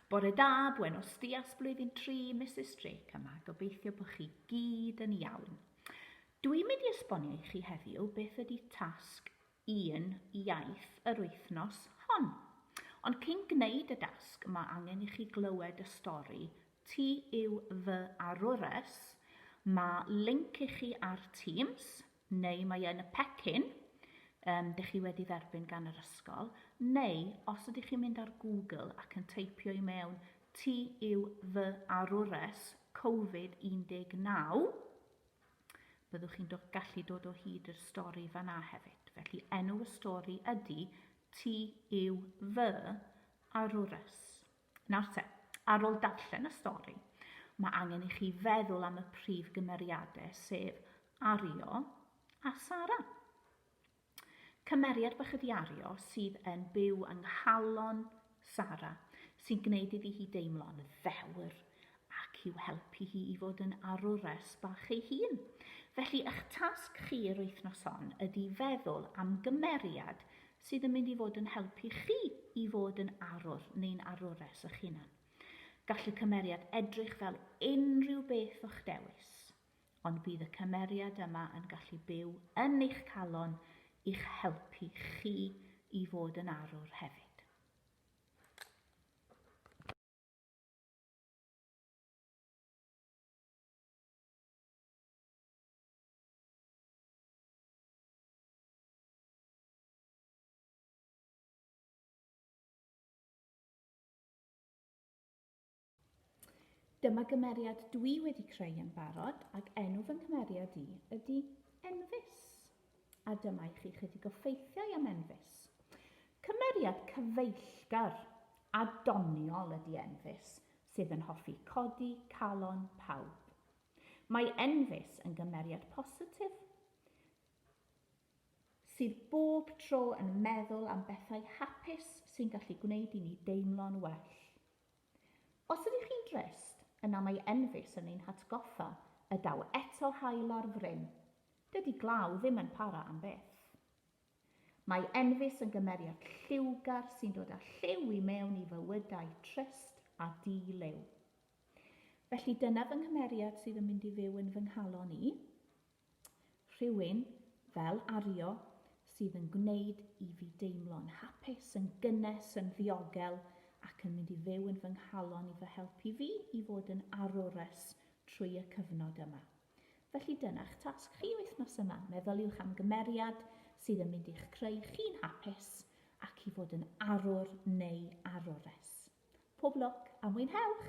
Bore da, buenos dias, blwyddyn 3, Mrs Drake yma, gobeithio bod chi gyd yn iawn. Dwi'n mynd i esbonio i chi heddiw beth ydy tasg un iaith yr wythnos hon. Ond cyn gwneud y dasg, mae angen i chi glywed y stori Ti yw fy arwres. Mae link i chi ar Teams, neu mae yn y pecyn um, dych chi wedi dderbyn gan yr ysgol, neu os ydych chi'n mynd ar Google ac yn teipio i mewn ti yw fy arwres Covid-19, byddwch chi'n do, gallu dod o hyd i'r stori fanna hefyd. Felly enw y stori ydy ti yw fy arwres. Nawr te, ar ôl darllen y stori, mae angen i chi feddwl am y prif gymeriadau, sef Ario a Sara. Cymeriad bach ydi Ario sydd yn byw yng nghalon Sara, sy'n gwneud iddi hi deimlo'n ddewr ac i'w helpu hi i fod yn arwres bach ei hun. Felly, eich tasg chi yr wythnos hon ydi feddwl am gymeriad sydd yn mynd i fod yn helpu chi i fod yn arwr neu'n arwres eich hunan. Gall y cymeriad edrych fel unrhyw beth o'ch dewis, ond bydd y cymeriad yma yn gallu byw yn eich calon i'ch helpu chi i fod yn arwr hefyd. Dyma gymeriad dwi wedi creu yn barod ac enw fy nghymeriad i ydy Enfys. A dyma i chi chydig o ffeithiau am Enfys. Cymeriad cyfeillgar a doniol ydy Enfys, sydd yn hoffi codi calon pawb. Mae Enfys yn gymeriad positif. sydd bob tro yn meddwl am bethau hapus sy'n gallu gwneud i ni deimlo'n well. Os ydych chi'n drist, yna mae Enfys yn ein hatgoffa y daw eto haul ar fryn. Dydy glaw ddim yn para am byth. Mae Enfys yn gymeriad lliwgar sy'n dod â lliw i mewn i fywydau trist a di-liw. Felly dyna fy nghymeriad sydd yn mynd i fyw yn fy nghalon i. Rhywun, fel Ario, sydd yn gwneud i fi deimlo'n hapus, yn gynnes, yn ddiogel ac yn mynd i fyw yn fy nghalon i fy helpu fi i fod yn arwres trwy y cyfnod yma. Felly dyna'ch tasg chi wythnos yma, meddyliwch am gymeriad sydd yn mynd i'ch creu chi'n hapus ac i fod yn arwr neu arwres. Pob lwc a mwynhewch!